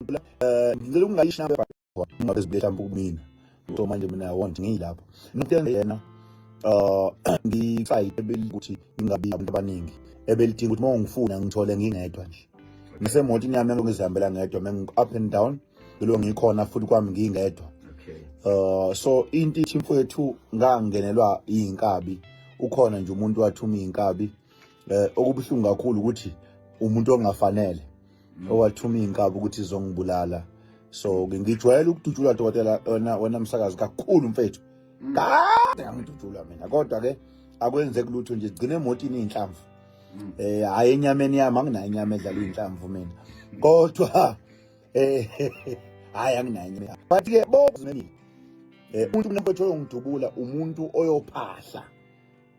ngicela eh, ngicela ukungayishi nami kodwa ungabe zibe mhlawumbe kumina so manje mina i want ngiyilapho ngithenga yena uh ngifight ukuthi ngingabi abantu abaningi ebelidinga ukuthi mawungifuna ngithole ngingedwa nje ngisemotini yami engizihambela ngedwa mengi up and down lo ngikhona futhi kwami ngingedwa uh so into ithi mfowethu ngangenelwa inkabi ukhona nje umuntu wathuma inkabi eh okubuhlungu kakhulu ukuthi umuntu ongafanele mm. owathuma inkaba ukuthi izongibulala so ngijwayele ukudutshulwa dokotela wena wena msakazi kakhulu mfethu mm. ngidutshulwa mina kodwa ke akwenzeki lutho nje gcine emotini inhlamvu mm. eh hayi enyameni yami anginayo inyama edlala inhlamvu mina kodwa eh hayi anginayo inyama but ke bokuzimini eh umuntu mfethu oyongidubula umuntu oyophahla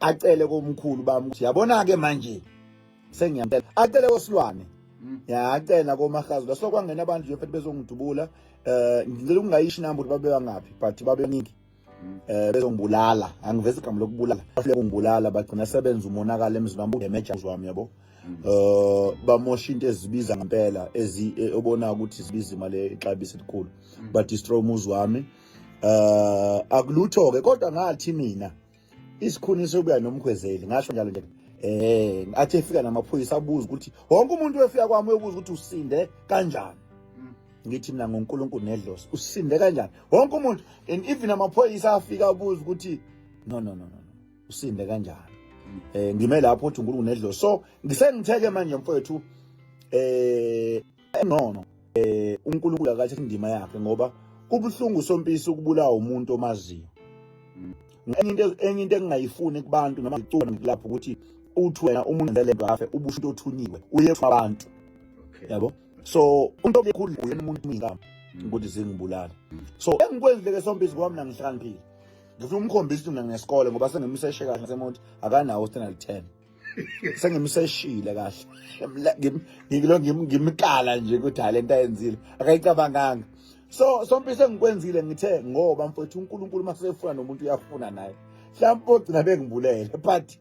acele komkhulu bami ukuthi yabona ke manje sengiyamtela acele kosilwane mm. ya acela komahazi laso kwangena abantu nje futhi bezongidubula eh ngicela ukungayishi namba ukuthi babe bangaphi but babe ningi mm. eh bezongibulala angivezi igama lokubulala afike kungibulala bagcina sebenza umonakala emzini wami udemeja wami yabo mm. eh bamosha into ezibiza ngempela ezi eh, obona ukuthi zibiza imali exabisa elikhulu ba destroy umuzi wami eh akulutho ke kodwa ngathi mina isikhuni sokuya nomkhwezeli ngasho njalo nje eh athi efika namaphoyisa abuza ukuthi wonke umuntu wefika kwami uyobuza ukuthi usinde kanjani mm. ngithi mina ngoNkulunkulu nedlozi usinde kanjani wonke umuntu and even amaphoyisa afika abuza ukuthi no no no no usinde kanjani mm. eh ngime lapho uthi uNkulunkulu nedlozi so ngisengitheke manje mfowethu eh engcono eh uNkulunkulu akathatha indima yakhe ngoba kubuhlungu sompisi ukubulawa umuntu omaziyo enye into enye into engingayifuni kubantu noma ngicula ngilapha ukuthi uthi wena umuntu ngale nto afe ubusho into othunyiwe uye abantu yabo so umuntu obekhulu uyena umuntu umingama ukuthi zingibulala so engikwenzile ke sompisi kwami nangihlakaniphile ngifuna umkhombisa ukuthi mina nginesikole ngoba sengimseshe kahle ngasemonti akanawo standard 10 sengimseshile kahle ngilo ngimkala nje ukuthi hayi lento ayenzile akayicabanganga so sompi sengikwenzile ngithe ngoba mfowethu uNkulunkulu masefuna nomuntu uyafuna naye mhlawumbe ogcina bengibulele but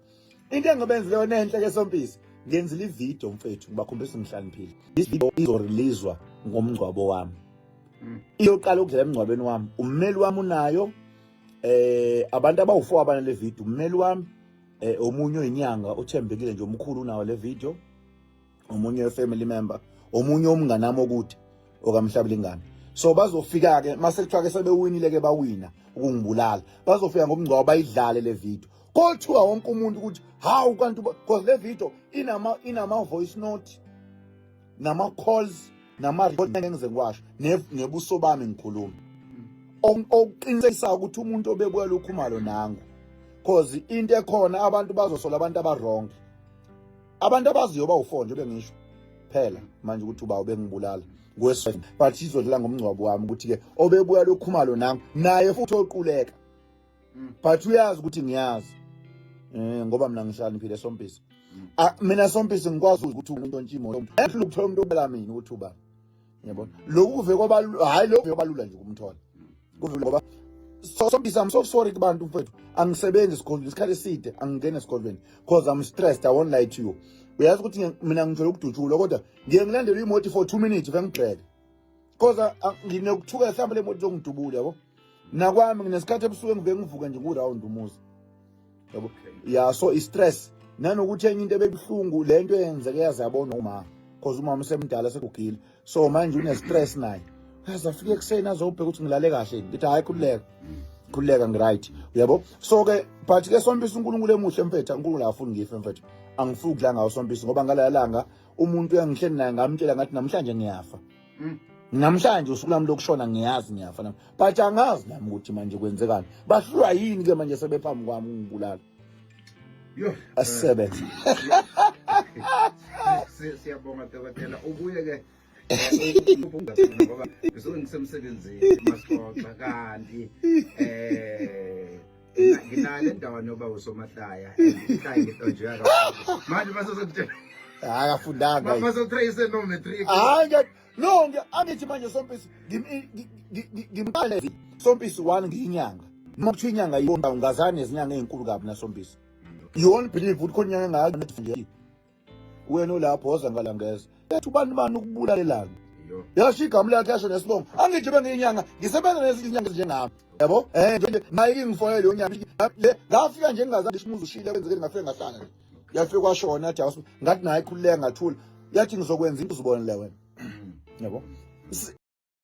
into engibenzile yona enhle ke sompisi ngenzile ivideo mfethu ngibakhombisa ngihlaniphile this video izoreleaswa ngomngcwabo wami mm. iyoqala ukudlala emngcwabeni wami ummeli wami unayo eh abantu abawu4 abana le video ummeli wami eh omunye oyinyanga uthembekile nje omkhulu unawo le video omunye family member omunye omngane nami okude okamhlabile ingane so bazofika ke mase kuthiwa ke sebewinile ke bawina ukungibulala bazofika ngomngcwabo bayidlale le video kothiwa wonke umuntu ukuthi hawu kanti because le video inama inama voice note nama-calls nama-report ngengize ngiwasho ngebuso bami ngikhuluma okuqinisekisa ukuthi umuntu obebuya lokhu malo nangu cause into ekhona abantu bazosola abantu abaronke abantu abaziyo bawufo nje bengisho phela manje ukuthi uba ubengibulala ngwesifazane but izodlala ngomngcwabo wami ukuthi-ke obebuya lokhumalo nangu naye futhi oquleka mm. but uyazi ukuthi ngiyazi eh ngoba mina ngihlaniphile sompisi mm. ah, mina sompisi ngikwazi ukuthi umuntu ontshimo yomuntu ehlula ukuthola umuntu obela mina ukuthi ubani yebo lokhu kuve kwaba hayi lokhu kuve kwalula nje ukumthola kuve ngoba so sompisi i'm so sorry kubantu mfethu angisebenzi esikolweni isikhathi eside angingene esikolweni because i'm stressed i won't lie to you uyazi ukuthi mina ngithola ukudutshulwa kodwa ngiye ngilandela imoto for 2 minutes vengibheke Koza ah, nginokuthuka mhlawumbe le moto izongidubula yabo. Nakwami nginesikhathi ebusuku engibe ngivuka nje ngu-round umuzi. Yabo. Yeah, so i-stress nanokuthi enye into ebebuhlungu le nto eyenzeke yaze yabona umama cause umama usemdala sekugile so manje une-stress naye yaze afike ekuseni azobheka ukuthi ngilale kahle ngithi hhayi khululeka khululeka ngiright uyabo so-ke but ke sompisa unkulunkulu emuhle mfethu unkulunkulu akafuni ngife mfethu angifuni ukudla ngawo sompisa ngoba ngalala langa umuntu uyangihleli naye ngamtshela ngathi namhlanje ngiyafa mm. namhlanje usuku lami lokushona ngiyazi ngiyafa nami but angazi nami ukuthi manje kwenzekani bahlulwa yini ke manje sebephambi kwami ungibulala yho asisebenze siyabonga dokotela ubuye ke ngoba ngisemsebenzini masixoxa kanti um nginale ndawo noba usomahlaya ikhaya ngitonjeka kakhulu manje basozokutshela hayi akafundanga basotrace no matric hayi no angithi manje sompisi ngimqale sompisi one ngiyinyanga noma kuthiwa inyanga yona ungazani nezinyanga ezinkulu kabi nasompisi you won't believe ukuthi khona inyanga engaka wena ulapho woza ngalangeza ethi ubani bani ukubulalelana yasho igama lakhe yasho nesibongo angithi bengiyinyanga ngisebenza nezinyanga ezinjengami yabo eh nje nje naye kingifonele leyo nyanga le ngafika nje ngingazange ishimuzi ushile kwenzeke ngafika ngahlala nje yafika kwashona athi awusi ngathi naye khululeka ngathula yathi ngizokwenza into uzibonele wena yabo